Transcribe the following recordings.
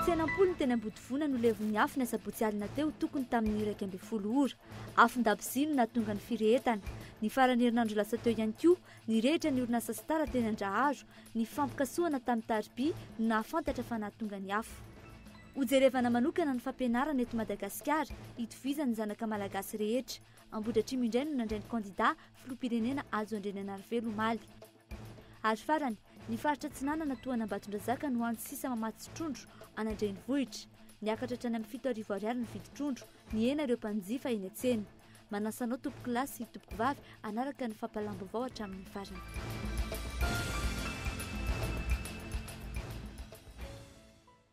Fiainam-polony teny Ambodivona no levon'ny afo ny asabotsy alina teo tokony tamin'ny iraika ambin'ny folo ora. Afon-dabozy no nahatonga ny firehetana. Ny faran'ny herinandro lasa teo ihany koa, nirehitra ny orinasa Star teny Andraharo. Ny fifampikasohana tamin'ny tariby no nahafantatra fa nahatonga ny afo. Hojerevana manokana ny fampianarana eto Madagasikara, hitovizan'ny zanaka malagasy rehetra. Ambohidratrimo indray no nandray ny kandidà filoham-pirenena Hajo Andriananarivelo omaly. Ary farany, ny faritra Atsinanana toa an'Ambatondrazaka no hany sisa mamatsy trondro an'Andrenivohitra. Niakatra hatrany amin'ny fito arivo ariary ny vidin-trondro, nihena ireo mpanjifa eny an-tsena. Manasa anao tompokolahy sy tompokovavy hanaraka ny fampahalam-baovao hatramin'ny farany.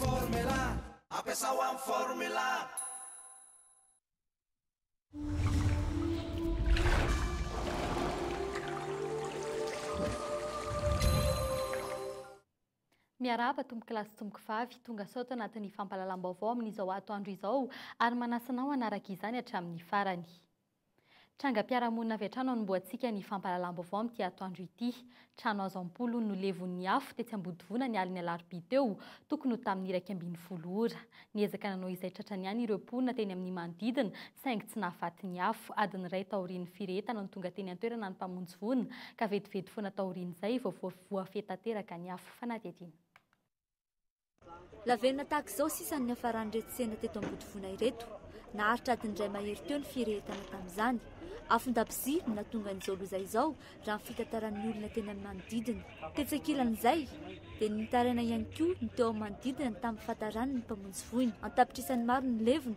Formula, ampiasao amin'ny formula. Miarahaba tompoko lahy sy tompoko vavy, tonga sao tao anatin'ny fampahalalam-baovao amin'izao atoandro izao ary manasa anao hanaraka izany hatramin'ny farany. Trangam-piarahamonina avy hatrany anombohantsika ny fampahalalam-baovao amin'ity atoandro ity. Trano hazo am-polony no levon'ny afo tetsy Ambodivona ny alin'ny alarobia teo, tokony ho tamin'ny iraika ambin'ny folo ora. Niezaka nanao izay tratrany ihany ireo mponina teny amin'ny manodidina saingy tsy nahafaty ny afo. Adiny iray taorian'ny firehetana no tonga teny an-toerana ny mpamonjy voina ka vetivety foana taorian'izay vao voafehy tanteraka ny afo. Fanadihadiana. Lavenona tahaka izao sisa no niafaran'ireto tsena teto Ambodivona ireto. Naharitra adiny iray mahery teo ny firehetana tamin'izany. Afon-dakozia no nahatongan'izao loza izao, raha ny fitantaran'ny olona teny amin'ny manodidina. Tetsy ankilan'izay, dia nitaraina ihany koa ny teo amin'ny manodidina tamin'ny fahataran'ny mpamonjy voina. An-tapitrisany maro ny levona,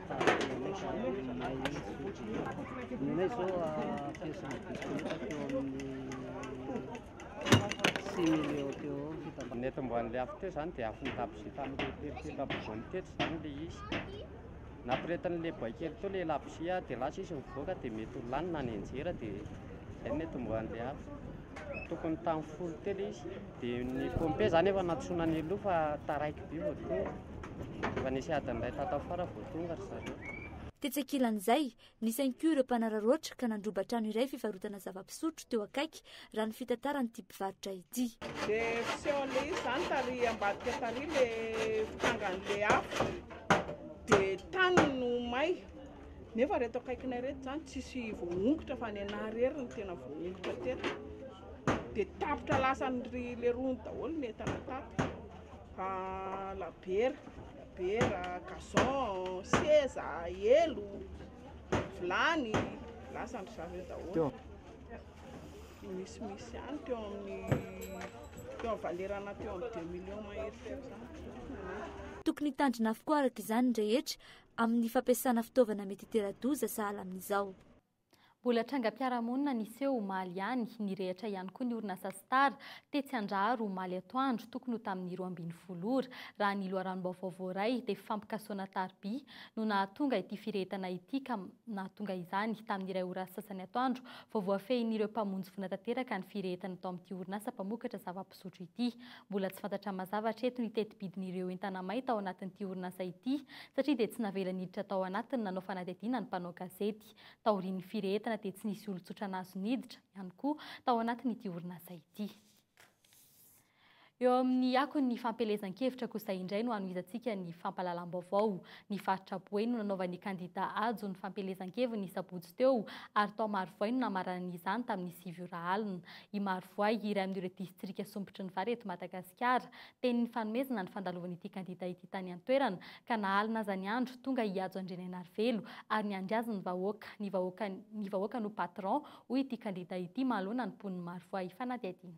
Ny eto amboan'ilay afo teo izany dia afon'ny labozia tamin'ilay labozia tamin'ny teto izany ilay izy. Nampirehetan'ilay boay kely teo ilay labozia dia lasa izy mivoaka dia mety ho lany na nianjera dia izay no eto amboan'ilay afo. tokony tamin'ny folo telo izy dia ny pompier zany efa nantsoina any aloha fa taraiky be vao tonga efa nisy adiny iray tato afara vao tonga ry zareo Tetsy ankilan'izay, nisy ihany koa ireo mpanararaotra ka nandroba trano iray fivarotana zava-pisotro teo akaiky, raha ny fitantaran'ity mpivarotra ity. Dia fiseho an'ilay izy izany tary ambadika tary ilay fitangan'ilay afo, dia tany no may. Nefa reto akaikinay reto zany tsisy voamongotra fa ny anah rery ny tena voamongotra teto. Dia tapitra lasan'ry leroany daholo ny entana tato. Fa labiera, labiera, gazon, seza, elo, vilany, lasan'ry zareo daholo. Ny misimisy ihany teo amin'ny teo amin'ny valerana teo amin'ny 2 millions mahery teo zany. Tokony hitandrina avokoa araka izany ny rehetra amin'ny fampiasana fitaovana mety hitera-doza sahala amin'izao. Mbola trangam-piarahamonina niseho omaly ihany, nirehitra ihany koa ny orinasa Star tetsy Andraharo omaly atoandro, tokony ho tamin'ny roa ambin'ny folo ora. Raha ny loharanom-baovao voaray dia fampikasoana tariby no nahatonga ity firehetana ity ka nahatonga izany tamin'ny iray ora sasany atoandro vao voafehin'ireo mpamonjy voina tanteraka ny firehetana tao amin'ity orinasa mpamokatra zava zotro ity. Mbola tsy fantatra mazava hatreto ny tetibidin'ireo entana may tao anatin'ity orinasa ity satria dia tsy navela niditra tao anatiny nanao fanadihadiana ny mpanao gazety. Taorian'ny firehetana dia tsy nisy olon-tsotra nahazo niditra, ihany koa, tao anatin'ity orinasa ity. Eo amin'ny akon'ny fampielezan-kevitra kosa indray no hanohizantsika ny fampahalalam-baovao. Ny faritra Boeny no nanaovan'ny kandida Hajo ny fampielezan-keviny ny sabotsy teo ary tao Marovoay no namaranany izany tamin'ny sivy ora alina. i Marovoay, iray amin'ireo distrika sompitry ny vary eto Madagasikara. Teny nifanomezana ny fandalovan'ity kandida ity tany an-toerana, ka nahalina aza ny andro, tonga i Hajo Andrianainarivelo ary niandry azy ny vahoaka. Ny vahoaka ny vahoaka no patron, hoy ity kandida ity manoloana ny mponin'i Marovoay. Fanadihadiana.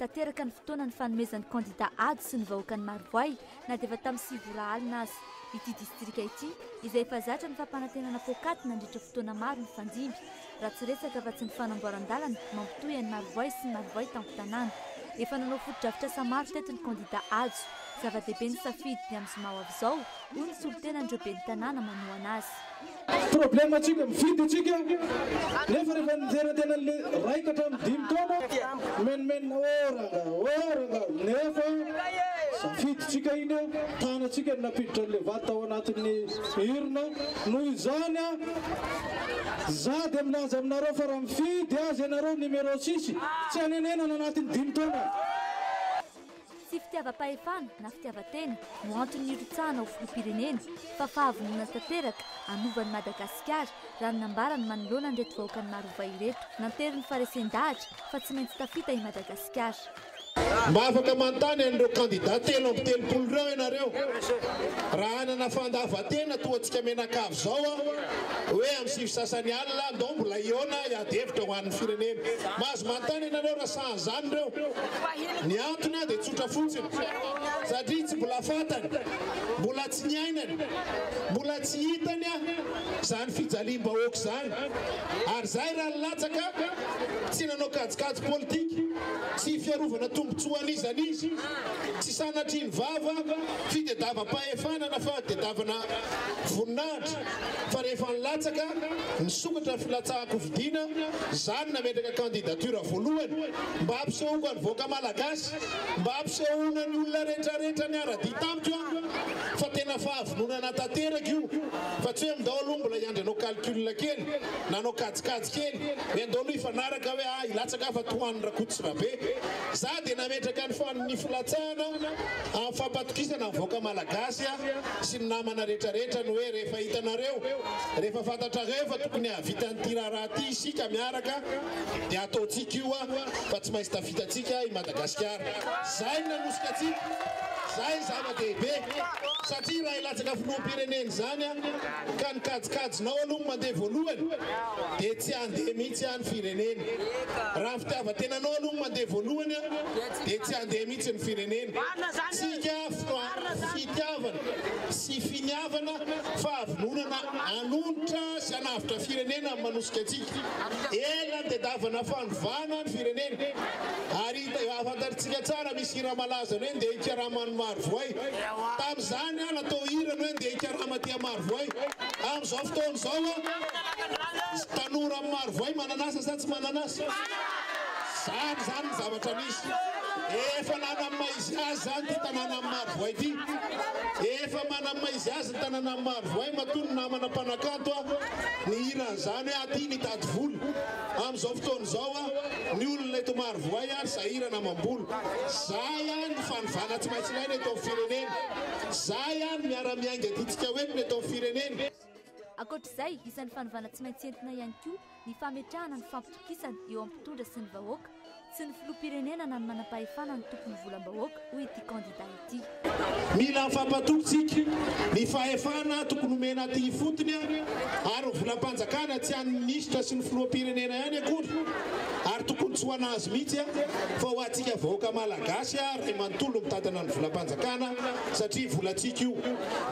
Tanteraka ny fotoana nifanomezan'ny kandida ady sy ny vahoakan'i Marovoay na dia efa tamin'ny sivy ora alina aza. Ity distrika ity, izay efa zatra ny fampanantenana poakaty nandritra fotoana maro nifandimby, raha tsy resaka afa-tsy ny fanamboaran-dalana mampitohy an'i Marovoay sy ny Marovoay tampon-tanàna. Efa nanao fotodrafitrasa maro teto ny kandida Hajo. Zava-dehibe ny safidy ny amin'ny zoma ho avy izao, hoy ny solontenan'ireo ben'ny tanàna manohana azy. Problème antsika mifidy antsika nefa rehefa nijery tena le ray ka hatramin'ny dimy taona mimenomenona ô rangah ô rangah nefa safidintsika iny tanantsika no nampiditra an'le vady tao anatin'ny urne noho izany za dia milaza aminareo fa raha mifidy azy ianareo numéro six tsy hanenenana anatin'ny dimy taona Tsy fitiavam-pahefana na fitiavan-tena no antony nirotsahana ho filoham-pirenena fa fahavononana tanteraka hanova an'i Madagasikara, raha ny nambarany manoloana an'ireto vahoakan'i Marovay ireto. Nanteriny ny faharesen-dahatra fa tsy maintsy tafita i Madagasikara. Mba afaka manontany an'ireo kandida telo amby telopolo ireo ianareo, raha hanana fandavan-tena toa antsika mianakavy izao aho, hoe amin'ny sivy sasany alina, ndao mbola hihaona hiady hevitra ho an'ny firenena. Mahazo manontany ianareo raha. Tahazany ireo. Ny antony dia tsotra fotsiny. Satria tsy mbola fantany, mbola tsy niainany, mbola tsy hitany izany fijaliam-bahoaka izany. Ary izahay raha nilatsaka, tsy nanao kajikajy politika, tsy fiarovana tombontsoa an'iza an'iza, tsy sanatrian'ny vava, fitediavam-pahefana na fahatediavana voninahitra. fa rehefa nilatsaka nisokatra ny filatsahan-kofidiana zany nametraka candidature voalohany mba hampisehoako an'i vahoaka Malagasy mba hampisehoana ny olona retraretra niara-dia tamiko aho fa tena fahavononana tanteraka io fa tsy hoe mindao aloha mbola hiandry hanao calcul kely na hanao kajikajy kely hoe ndao aloha hifanaraka hoe ah hilatsaka aho fa tohan'ny Rakototsirabe za dia nametraka ny filatsahana amin'ny fampatokisana ny vahoaka Malagasy aho sy ny namana rehetra rehetra ny hoe rehefa hitanareo, rehefa fantatrareo fa tokony hahavita an'ity raharaha ity isika miaraka dia ataontsika io a, fa tsy maintsy tafita antsika i Madagasikara. Izay no nanosika antsika, izay no zava-dehibe, satria raha hilatsaka filoham-pirenena izany a, ka ny kajikajinao aloha no mandeha voalohany dia tsy handeha mihitsy a ny firenena. Raha ny fitiavan-tenanao aloha no mandeha voalohany a, dia tsy handeha mihitsy ny firenena. Tsika fitiavana sy finiavana fahavononana hanonitra sy hanavotra firenena no manosika antsika. Ela nitedavana fanovana ny firenena ary fantatritsika tsara misy hira malaza ny hoe ndeha hikarama any Marovoay. Tamin'izany aho natao hira ny hoe ndeha hikarama aty Marovoay. Amin'izao fotoana izao aho tanora Marovoay manan'asa sa tsy manan'asa? Zany zany ny zavatra misy. Efa nanam maha izy azy zany ity tanàna am maro voay ity. Efa manam maha izy azy ny tanàna am maro voay matoa ny namana mpanakanto a nihira an'izany hoe aty nitady vola. Am'izao fotoana izao a ny olona eto maro voay ary sahirana amam-bola. Zay any ny fanovana tsy maintsy ilaina eto am firenena. Zay any ny miara miainga tiantsika ho entina eto am firenena. Ankoatr'izay, isan'ny fanovana tsy maintsy entina ihany koa ny fametrahana ny fampitokisana eo amin'ny mpitondra sy ny vahoaka, tsy ny filoham-pirenena na ny manam-pahefana no tompon'ny volam-bahoaka, hoy ity kandida ity. Mila afampatoky tsika, ny fahefana tokony omena aty ifotony ary ny volam-panjakana tsy an'ny minisitra sy ny filoham-pirenena ihany akory ary tokony tsy ho an'azy mihitsy fa ho antsika vahoaka malagasy ray manontolo mitantana ny volam-panjakana satria volantsika io,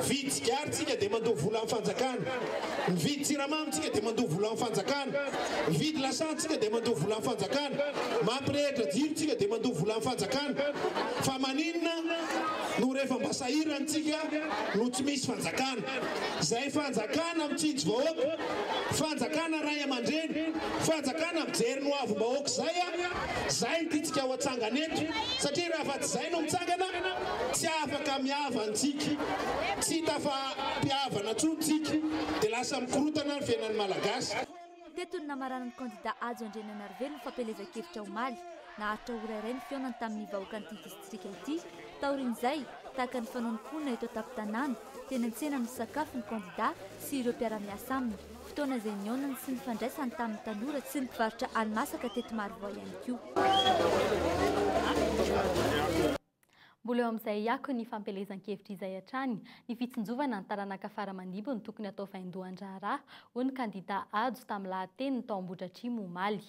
vidy sigary tsika dia mandoa volan'ny fanjakana. Mividy siramamy tsika dia mandoa vola amin'ny fanjakana. Mividy lasantsy tsika dia mandoa vola amin'ny fanjakana. Mampirehitra jiro tsika dia mandoa vola amin'ny fanjakana. Fa maninona no rehefa mba sahirana tsika no tsy misy fanjakana. Izay fanjakana mitsinjo vahoaka, fanjakana ray aman-dreny, fanjakana mijery ny hoavim-bahoaka izay a! Izay no tiantsika ho atsangana eto. Satria raha afa-tsy izay no mitsangana, tsy afaka mihavana tsika. Tsy hita fa. Fihavanana tsoa ny tsiky dia lasa mikorotana ny fiainan'ny Malagasy. Teto no namaranan'ny kandida Hajo Andriananarivelo ny fampielezan-kevitra omaly. Naharitra ora iray ny fihaonany tamin'ny vahoakan'ity distrika ity. Taorian'izay, tahaka ny fanaon'ny mponina eto an-tampon-tanàna, teny an-tsena no nisakafo ny kandida sy ireo mpiara-miasa aminy, fotoana izay nihaonany sy nifandraisany tamin'ny tanora sy ny mpivarotra hani-masaka teto Marovoay ihany koa. Mbola eo amin'izay hiako ny fampielezan-kevitra izay hatrany, ny fitsinjovana ny taranaka fara-mandibo no tokony hatao vaindohan-draharaha, hoy ny kandida Hajo tamin'ny lahateniny tao Ambohidratrimo omaly.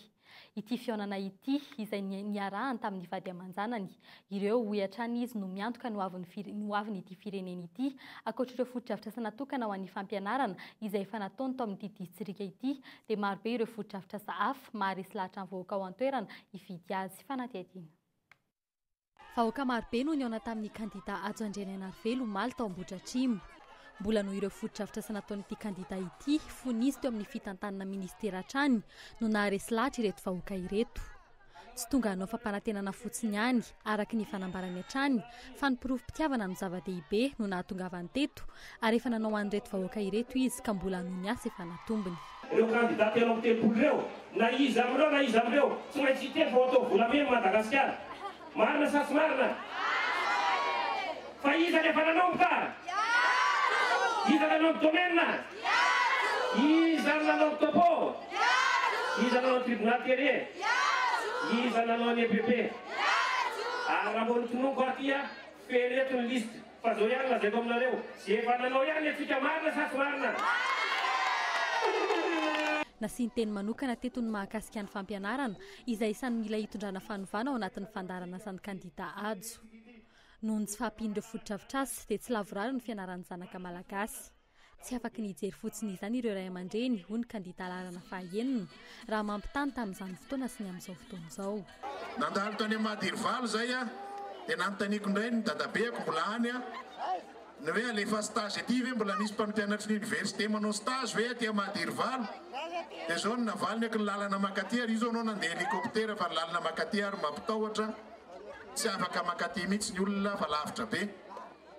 Ity fihaonana ity, izay niarahany tamin'ny vady aman-janany, ireo, hoy hatrany izy, no miantoka ny ho avin'ity firenena ity, ankoatr'ireo fotodrafitrasa natokana ho an'ny fampianarana izay efa nataony tao amin'ity distrika ity, dia marobe ireo fotodrafitrasa hafa maharesy lahatra ny vahoaka ao an-toerana hifidy azy. Fanadihadiana. Vahoaka marobe no nihaona tamin'ny kandida Hajo Andrianainarivelo omaly tao Ambohidratrimo. Mbola noho ireo fotodrafitrasa nataon'ity kandida ity fony izy teo amin'ny fitantanana minisitera hatrany no naharesy lahatra ireto vahoaka ireto. Tsy tonga hanao fampanantenana fotsiny ihany, araka ny fanambarany hatrany, fa ny porofom-pitiavana no zava-dehibe no nahatongavany teto Ary efa nanao an'ireto vahoaka ireto izy ka mbola hanohy ny asa efa natombony. Ireo kandida telo amby telopolo ireo, na iza amin'ireo na iza amin'ireo, tsy maintsy hiteny fa ho atao volamena i Madagasikara. Marina sa tsy marina? Fa iza no efa nanomboka? Iza no nanao ny domaine? Iza no nanao ny topo? Iza no nanao ny tribunal terrier? Iza no nanao ny EPP? Ary raha vao notononiko aty, feno eto ny liste. Fa zao ihany lazaiko aminareo, ze efa nanao ihany le fika marina sa tsy marina? Nasian-teny manokana teto ny mahakasika ny fampianarana, izay isan'ny mila hitondrana fanovana ao anatin'ny fandaharanasan'ny kandida Hajo. Noho ny tsy fahampian'ireo fotodrafitrasa, dia tsy lavorary ny fianaran'ny zanaka Malagasy. Tsy afaky ny hijery fotsiny izany ireo ray aman-dreny, hoy ny kandidà laharana fahaenina, raha mampitaha ny tamin'izany fotoana sy ny amin'izao fotoana izao. Nandalo tany Amady Irivalo izay aho dia nanontaniako indray ny dadabeko mbola any ny hoe alefa stage ety ve mbola misy mpampianatry ny oniversite manao stage ve aty Amady Irivalo dia izao no navaliny aky ny lalana makaty ary io izao anao nandeha hélicoptère fa ny lalana makaty ary mampitahotra tsy afaka makaty mihitsy ny olona fa lavitra be.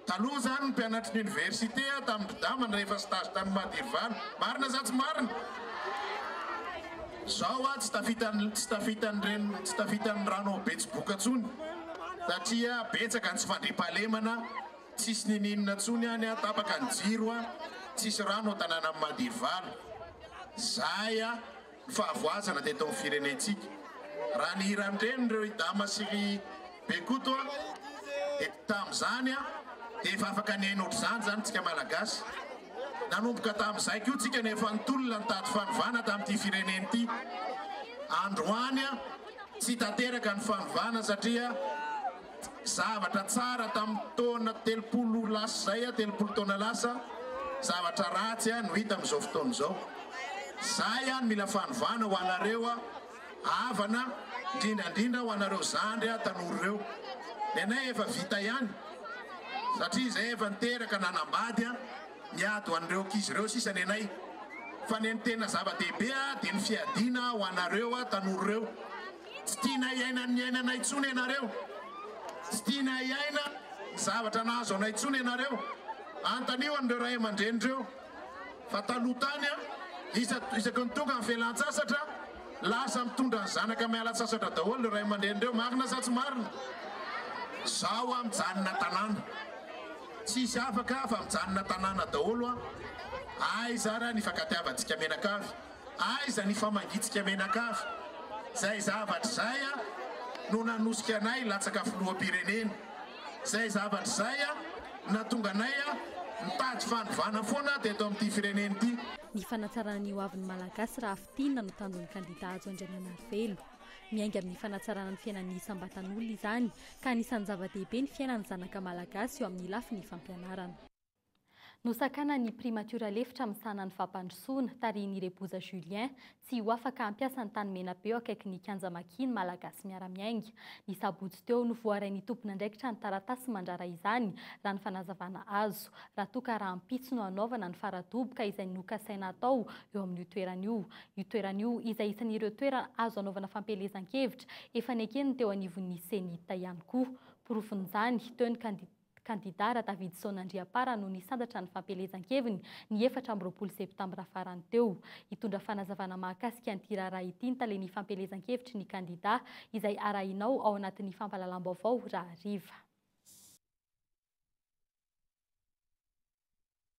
Taloha zany ny mpianatry ny université a tamin'ny Bdama no rehefa stage tany Madhirvana. Marina sa tsy marina? Zao a tsy tafita tsy tafita an'ireny tsy tafita ny rano ao betsiboka tsony satria betsaka ny tsy fandriampahalemana tsisy nininona tsony any a tapaka ny jiro a tsisy rano ao tananan'i Madhirvana. Zay a. fahavoazana teto amin'ny firenentsika. Raha ny hiran-drenireo i Dama sy ry Bekoto dia tamin'izany dia efa afaka nihaino ohatr'izany izany isika Malagasy. Nanomboka tamin'izay koa isika no efa nitolona nitady fanovana tamin'ity firenena ity. Androany tsy tanteraka ny fanovana satria. Zavatra tsara tamin'ny taona telopolo lasa izay, telopolo taona lasa, zavatra ratsy no hita amin'izao fotoana izao. Izay no mila fanovana ho anareo havana, indrindra indrindra ho anareo zandry tanora ireo. Ny anay efa vita ihany satria izahay efa niteraka nanambady, miady ho an'ireo ankizy ireo sisa ny anay. Fa ny tena zava-dehibe dia ny fiadiana ho anareo tanora ireo. Tsy tiana hiaina ny niainanay intsony ianareo. Tsy tiana hiaina ny zavatra nahazo anay intsony ianareo. Anontanio an'ireo ray aman-dreny ireo fa taloha tany aho, isaky ny tonga ny fialan-tsasatra, lasa mitondra ny zanaka miala an-tsasatra daholo ireo ray aman-dreny ireo. Marina sa tsy marina? Izaho aho mijanona tanàna. Tsy hisy afaka aho fa mijanona tanàna daholo aho. Aiza ary aho ny hifankatiavantsika mianakavy? Aiza ny famangitsika menakavy? Zay zavatra zay no nanosika anay latsaka filoham-pirenena. Zay zavatra zay no natonga anay nitady fanovana foana teto amin'ity firenena ity. Ny fanatsarana ny hoavin'ny Malagasy raha fintinina no tanjon'ny kandida Hajo Andriananarivelo. Miainga amin'ny fanatsarana ny fiainan'ny isam-batan'olona izany, ka anisan'ny zava-dehibe ny fiainan'ny zanaka Malagasy eo amin'ny lafiny fampianarana. Nosakana ny primatiora lefitra misahana ny fampandrosoana, tarihin'i Reboza Julien, tsy ho afaka hampiasa ny tany Menabeo akaiky ny kianja Maki ny Malagasy miara-miainga. Ny sabotsy teo no voarain'ny tompon'andraikitra ny taratasy mandrara izany, raha ny fanazavana azo, raha toa ka rahampitso no hanaovana ny fara-doboka izay nokasaina hatao eo amin'io toerana io. Io toerana io izay isan'ireo toerana azo anaovana fampielezan-kevitra, efa neken'ny teo anivon'ny Cenit ihany koa. Porofon'izany, teo ny kandida. Kandida Radavidson Andriampara no nisandratra ny fampielezan-keviny ny efatra amby roapolo septambra farany teo. Hitondra fanazavana mahakasika an'ity raharaha ity ny talen'ny fampielezan-kevitry ny kandida izay arahinao ao anatin'ny fampahalalam-baovao raha hariva.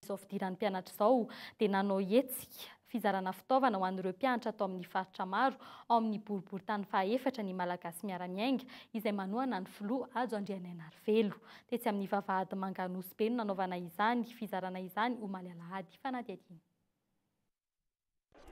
Izao fidiran'ny mpianatra izao dia nanao hetsika fizarana fitaovana ho an'ireo mpianatra ato amin'ny faritra maro ao amin'ny boriborintany fahaefatra ny Malagasy Miara-miainga izay manohana ny filoha Hajo Andrianainarivelo. Tetsy amin'ny vavahady Manganosi-be no nanaovana izany fizarana izany omaly alahady. Fanadihadiana.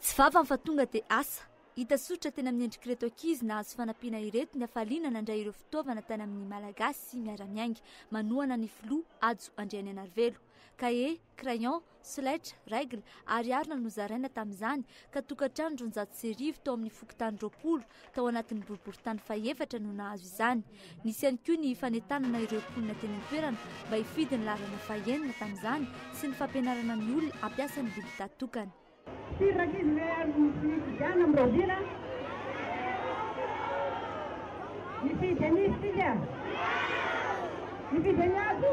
Tsy vavany fa tonga dia asa. Hita soritra teny amin'ny endrik'ireto ankizy nahazo fanampiana ireto ny hafaliana nandray ireo fitaovana tany amin'ny Malagasy miara-miainga manohana ny filoha Hajo Andrianenarivelo. Kahie, crayon, solaitra, règle ary harona nozaraina tamin'izany ka tokantrano roanjato sy arivo tao amin'ny fokontany roapolo Tao anatin'ny boriborintany fahefatra no nahazo izany. Nisy ihany koa ny fanentanana ireo mponina teny an-toerana mba hifidy ny laharana fahenina tamin'izany sy ny fampianarana ny olona hampiasa ny bilita tokana. Firy rankizy ve ary no tsy nisy izany amin'ny rahoviana? Nifidy an'iza isika? Nifidy an'i Ato?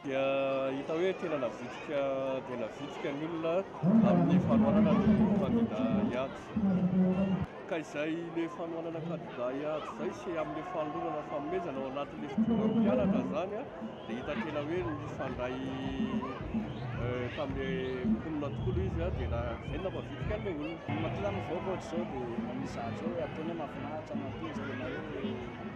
dia hita hoe tena navitrika dia navitrika ny olona amin'ny fanohanana ny kandida hiady. Ka izay le fanohanana kandida hiady izay sy amin'le fanolorana fanomezana ao anatin'le fidiovana mpianatra izany a, dia hita tena hoe nifandray tamin'le mponina tokoa aloha izy a, dia na izay no nampavitrika an'le olona. Ny mahatonga ny vahoaka ohatr'izao dia manisy zahatra hoe ataony hoe mahafinaritra, mampendrika na hoe.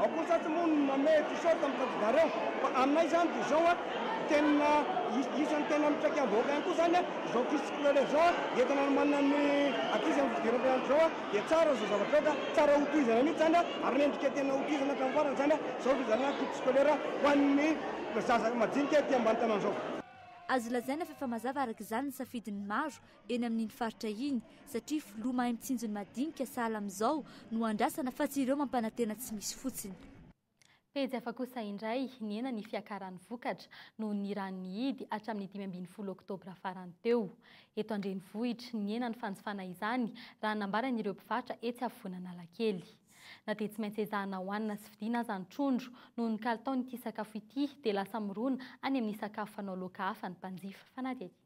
Ao kosa atsy moa ny manome t-shirt amin'ny tanjobareo fa aminay izany dia izao a, tena isan'ny tena mitraika amin'ny vahoaka ihany koa izany a, izao crise scolaire izao a, entina hanomanana ny ankizy amin'ny fidiran'ny mpianatra izao a, dia tsara izao zavatra izao ka tsara hotohizana mihitsy izany a, ary mendrika tena hotohizana hatramin'ny farany izany a, izao fifidianana crise scolaire ho an'ny zaza majinika ety ambany tanàna izao. Azo lazaina fa efa mazava araka izany ny safidin'ny maro eny amin'iny faritra iny satria filoha mahay mitsinjo ny madinika sahala amin'izao no andrasana fa tsy ireo mampanantena tsy misy fotsiny. Pejy hafa kosa indray, nihena ny fiakaran'ny vokatra noho ny rano nihidy hatramin'ny dimy ambin'ny folo oktobra farany teo. Eto an-drenivohitra, nihena ny fanjifana izany raha nambaran'ireo mpivarotra etsy afovoan'Analakely. Na dia tsy maintsy ezahana hohanina sy vidiana aza ny trondro, noho ny kalitaon'ity sakafo ity dia lasa mirona any amin'ny sakafo fanao laoka hafa ny mpanjifa fanadihadiana.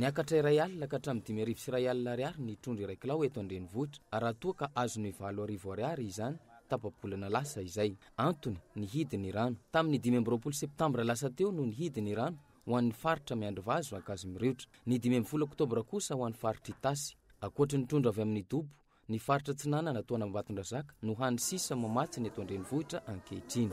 Niakatra iray alina ka hatramin'ny dimy arivo sy iray alina ariary ny trondro iray kilao eto an-drenivohitra, raha toa ka azon'ny valo arivo ariary izany tapa-bolana lasa izay. Antony, nihidy ny rano. Tamin'ny dimy amby roapolo septambra lasa teo no nihidy ny rano ho an'ny faritra Miandrivazo, Ankazomiriotra. Ny dimy ambin'ny folo oktobra kosa ho an'ny faritr'Itasy. Ankoatry ny trondro avy amin'ny dobo, Ny faritra Atsinanana toa an'Ambatondrazaka no hany sisa mamatsy ny eto an-drenivohitra ankehitriny.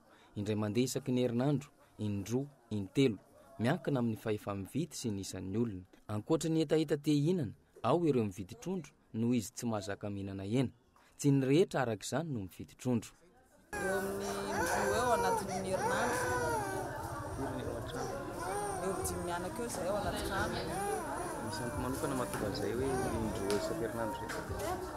indray mandeha isaky ny herinandro, in-droa, in-telo, miankina amin'ny fahefa-mividy sy ny isan'ny olona. Ankoatra ny hetaheta te hihinana, ao ireo mividy trondro noho izy tsy mahazaka mihinana hena. Tsy ny rehetra araka izany no mividy trondro. Eo amin'ny in-droa eo anatin'ny herinandro, eo amin'ny dimy mianaka eo izay ao anaty trano. Misy antony manokana mahatonga an'izay hoe in-droa isan-kerinandro izay?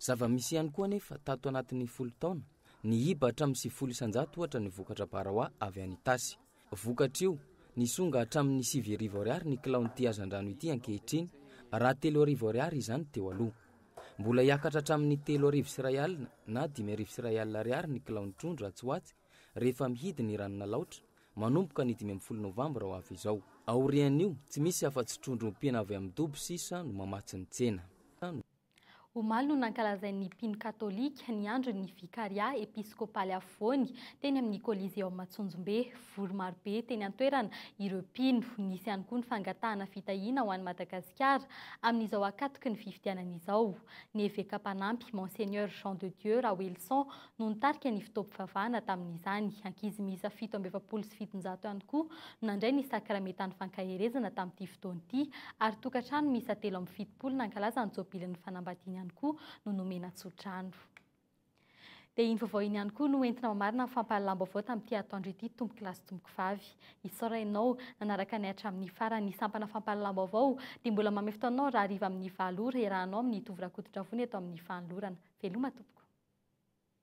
Zava-misy ihany koa anefa, tato anatin'ny folo taona, nihiba hatramin'ny sivifolo isan-jato ohatra ny vokatra baraoa avy any Itasy. Vokatr'io, nisonga hatramin'ny sivy arivo ariary ny kilaon'ity hazandrano ity ankehitriny, raha telo arivo ariary izany teo aloha. Mbola hiakatra hatramin'ny telo arivo sy iray alina na dimy arivo sy iray alina ariary ny kilaon'ny trondro atsy ho atsy Rehefa mihidy ny ranon'Alaotra, manomboka ny dimy ambin'ny folo novambra ho avy izao. Aorian'io, tsy misy afa-tsy trondro ompiana avy amin'ny dobo sisa no mamatsy ny tsena. Omaly no nankalazain'ny mpino katolika ny andron'ny Vikarià episkôpaly afovoany teny amin'ny Coliseum Antsonjombe. Vory marobe teny an-toerana ireo mpino. Nisy ihany koa ny fangatahana fitahiana ho an'i Madagasikara amin'izao ankatoky ny fifidianana izao. Ny eveka mpanampy, Monseigneur Jean de Dieu Raoelison no nitarika ny fotoam-pivavahana tamin'izany. Ankizy miisa fito amby efapolo sy fitonjato ihany koa no nandray ny sakramentan'ny fankaherezana tamin'ity fotoana ity, ary tokantrano miisa telo amby fitopolo nankalaza ny jobilin'ny fanambadiany ihany koa no nomena tsodrano. Dia iny vaovao iny ihany koa no entina mamarina ny fampahalalam-baovao tamin'ity atoandro ity, tompokolahy sy tompokovavy. Isaora ianao nanaraka anay hatramin'ny farany. Ny sampana fampahalalam-baovao dia mbola manome fotoana anao raha hariva amin'ny valo ora hiarahanao amin'i Tovo Rakotondravoana eto amin'ny Fanolorana. Veloma tompoko.